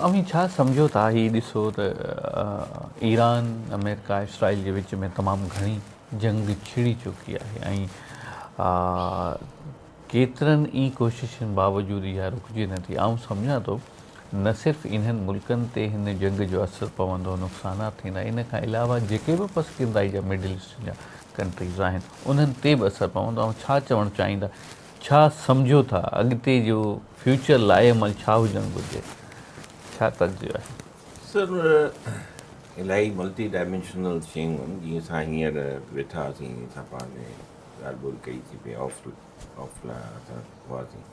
اوهين ڇا سمجهو ٿا هي ڏسو ته ايران، آمريڪا ۽ اسرائيل جي وچ ۾ تمام گهڻي جنگ ڇڙي چڪي آهي ۽ ڪيترن ئي ڪوششن باوجود اها رڪجي نه ٿي. آئون سمجهان ٿو نه صرف انهن ملڪن تي هن جنگ جو اثر پوندو، نقصانات ٿيندا، ان کان علاوه جيڪي به پسگيردائي جا مڊل ايسٽ جا ڪنٽريز آهن انهن تي به اثر پوندو. اوهين ڇا چوڻ چاهيندا ڇا سمجهو ٿا اڳتي جو فيوچر لائي عمل ڇا هجڻ گهرجي ڇا تجزيو آهي؟ سر الاهي ملٽي ڊائمينشنل شيون آهن جيئن اسان هينئر ويٺا هئاسين جيئن اسان پاڻ ۾ ڳالهه ٻولهه ڪئي سي پئي آف آف لا اسان هئاسين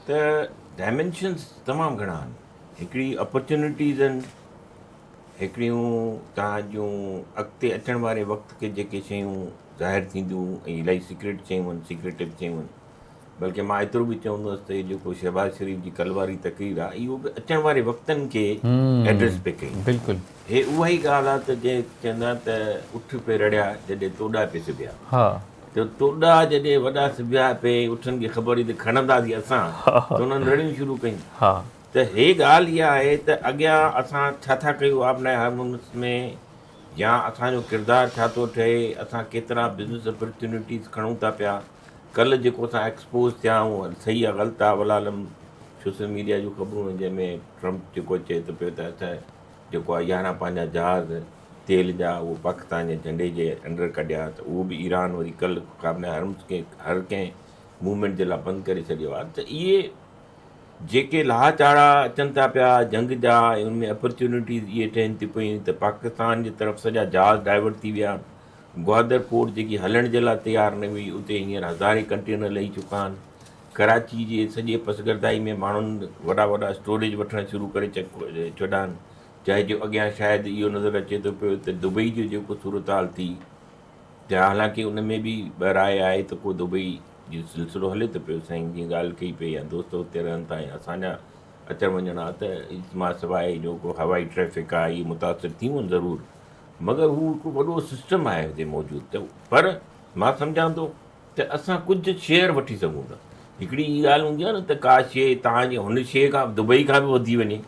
ته ڊائمينشنس تمام گهڻا آهن هڪڙي اپرچونيٽيز آهن هڪڙيون توهان جون اڳتي اچڻ واري وقت کي جيڪي شيون ظاهر ٿينديون ۽ الائي سيڪريٽ شيون آهن سيڪريٽو شيون آهن بلڪه مان ايترو به چوندس ته هي جيڪو شهباز شريف جي ڪل واري تقرير آهي اهو به اچڻ واري وقتن کي ايڊريس پئي ڪئي بلڪل هي اها ئي ڳالهه آهي ته جنهن چوندا آهن ته اٺ پئي رڙيا جڏهن توڏا پئي سبيا ها ته توڏا جڏهن وڏا سبيا پئي اٺن کي خبر هئي ته کڻندا سي اسان ته انهن رڙيون شروع ڪيون ها ته هي ڳالهه اها آهي ته اڳيان اسان ڇا ٿا ڪيون آف لائن هارمونس ۾ يا اسان جو ڪردار ڇا ٿو ٺهي اسان ڪيترا بزنس اپرچونيٽيز کڻون ٿا پيا ڪلهه جيڪو اسان ايڪسپوز ٿيا آهيون صحيح آ غلط آ ولا علم سوشل ميڊيا جون خبرون آهن جنهن ۾ ٽرمپ جيڪو چئي ٿو پيو ته اسان جيڪو آ يارهن پنهنجا جهاز تيل جا اهو پاڪستان جي جهنڊي جي انڊر ڪڍيا ته اهو به ايران وري ڪلهه آف لائن هارمونس کي هر ڪنهن موومينٽ جي لاء بند ڪري ڇڏيو آ ته اهي جيڪي لاھا چاڙھا اچن ٿا پيا جنگ جا ۽ ان ۾ اپرچونٽيز اھي ٺھين ٿيون پيون ته پاڪستان جي طرف سڄا جھاز ڊائيورٽ ٿي ويا گوادر پورٽ جيڪي ھلڻ جي لاء تيار نه ھئي اتي ھينئر ھزارين ڪنٽينر لھي چڪا آھن ڪراچي جي سڄي پسگردائي ۾ ماڻھن وڏا وڏا اسٽوريج وٺڻ شروع ڪري ڇڏا آھن جنهن جو اڳيان شايد اھو نظر اچي ٿو پيو ته دبئي جو جيڪو صورتحال ٿي جا حالانڪه ان ۾ به ٻه راء آھي ته ڪو دبئي جو سلسلو هلي ته پيو سائين جي ڳالهه ڪئي پئي يا دوست اتي رهن ٿا يا اسان جا اچڻ وڃڻ آ ته اجتماع سواء جو ڪو هوائي ٽريفڪ آ اهي متاثر ٿيون ضرور مگر هو هڪ وڏو سسٽم آهي هتي موجود ته پر مان سمجهان ٿو ته اسان ڪجهه شيئر وٺي سگهون ٿا هڪڙي هي ڳالهه هوندي آ نه ته ڪا شيء تهان جي هن شيء کان دبئي کان به وڌي وڃي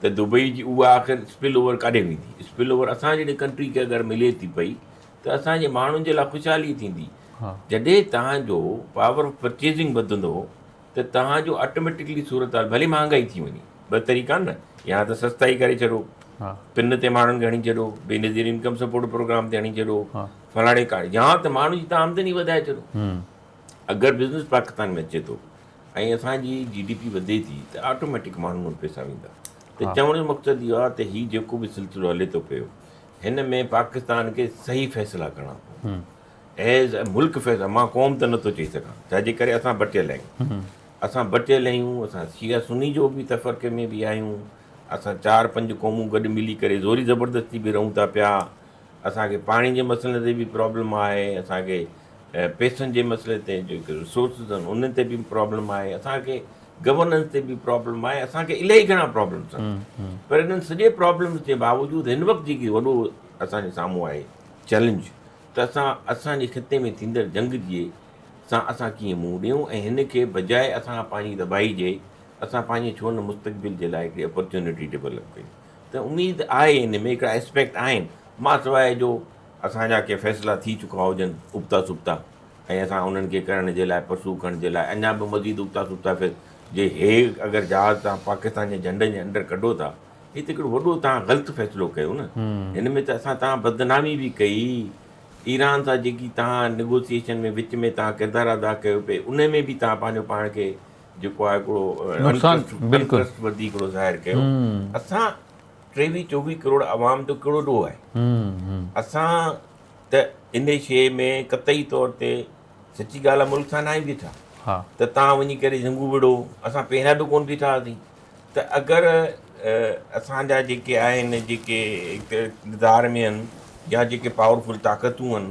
ته دبئي جي اها آخر اسپل اوور ڪاڏي ويندي اسپل اوور اسان جهڙي ڪنٽري کي اگر ملي ٿي پئي ته اسان جي ماڻهن جي لاء خوشحالي ٿيندي جڏهن توهان جو پاور آف پرچيزنگ وڌندو ته توهان جو آٽوميٽڪلي صورتحال ڀلي مهانگائي ٿي وڃي ٻه طريقا آهن نه يا ته سستائي ڪري ڇڏو پن تي ماڻهن کي هڻي ڇڏو Benazir income support programme تي هڻي ڇڏو فلاڻي ڪاڻي يا ته ماڻهن جي تان آمدني وڌائي ڇڏو اگر بزنس پاڪستان ۾ اچي ٿو ۽ اسان جي جي ڊي پي وڌي ٿي ته آٽوميٽڪ ماڻهن وٽ پيسا ويندا ته چوڻ جو مقصد اهو آهي ته هي جيڪو به سلسلو هلي ٿو پيو هن ۾ پاڪستان کي صحيح فيصلا ڪرڻا پوندا ايز اي ملڪ فيصلا مان قوم ته نٿو چئي سگهان ڇا جي ڪري اسان بٽيل آهيون اسان بٽيل آهيون اسان شيعا سني جو به تفرقي ۾ به آهيون اسان چار پنج قومون گڏ ملي ڪري زوري زبردستي به رهون ٿا پيا اسان کي پاڻي جي مسئلي تي به پرابلم آهي اسان کي ۽ پيسن جي مسئلي تي جيڪي رسورسز آهن انهن تي به پرابلم آهي اسان کي گورننس تي به پرابلم آهي اسان کي الائي گهڻا پرابلمس آهن پر انهن سڄي پرابلمس جي باوجود هن وقت جيڪي وڏو اسان جي سامهون آهي چئلينج ته اسان اسان جي خطي ۾ ٿيندڙ جنگ جي سان اسان ڪيئن منهن ڏيون ۽ هن کي بجاء اسان پنهنجي تباهي جي اسان پنهنجي ڇو نه مستقبل جي لاء هڪڙي اپرچونٽي ڊيولپ ڪيون ته اميد آهي هن ۾ هڪڙا اسپيڪٽ آهن مان سواء جو اسان جا ڪي فيصلا ٿي چڪا هجن ابتا سبتا ۽ اسان انهن کي ڪرڻ جي لاء پرسو ڪرڻ جي لاء اڃا به مزيد ابتا سبتا فيص جي هيگ اگر جهاز تان پاڪستان جي جهنڊن جي انڊر ڪڍو ٿا هي ته هڪڙو وڏو تان غلط فيصلو ڪيو نه هن ۾ ته اسان تان بدنامي به ڪئي ايران سان جيڪي تان نيگوسيشن ۾ وچ ۾ تان ڪردار ادا ڪيو پي انهي ۾ به تان پنهنجو پاڻ کي جيڪو آهي هڪڙو نقصان بلڪل انٽرسٽ وڌي هڪڙو ظاهر ڪيو اسان ٽيويهه چوويهه ڪروڙ عوام جو ڪهڙو ڏوهه آهي. اسان ته ان شيء ۾ قطعي طور تي سچي ڳالهه آهي ملڪ سان ناهي بيٺا ته تان وڃي ڪري جهنگون وڙهو، اسان پهريان به ڪونه بيٺا هئاسين ته اگر اسان جا جيڪي آهن جيڪي اقتدار ۾ آهن يا جيڪي پاورفل طاقتون آهن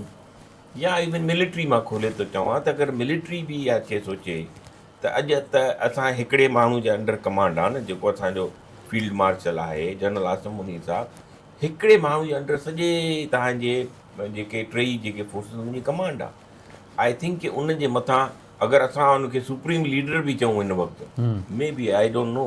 يا ايون ملٽري مان کولي ٿو چوان ته اگر ملٽري به اها شيء سوچي ته اڄ ته اسان هڪڙي ماڻهو جي انڊر ڪمانڊ آ نه جيڪو اسان جو فيلڊ مارشل آهي جنرل عاصم منير صاحب هڪڙي ماڻهو جي انڊر سڄي توهان جي جيڪي ٽيئي جيڪي فورسز ان جي ڪمانڊ آ آئي ٿنڪ ڪي ان جي مٿان اگر اسان ان کي سپريم ليڊر به چئون هن وقت مي بي آئي ڊونٽ نو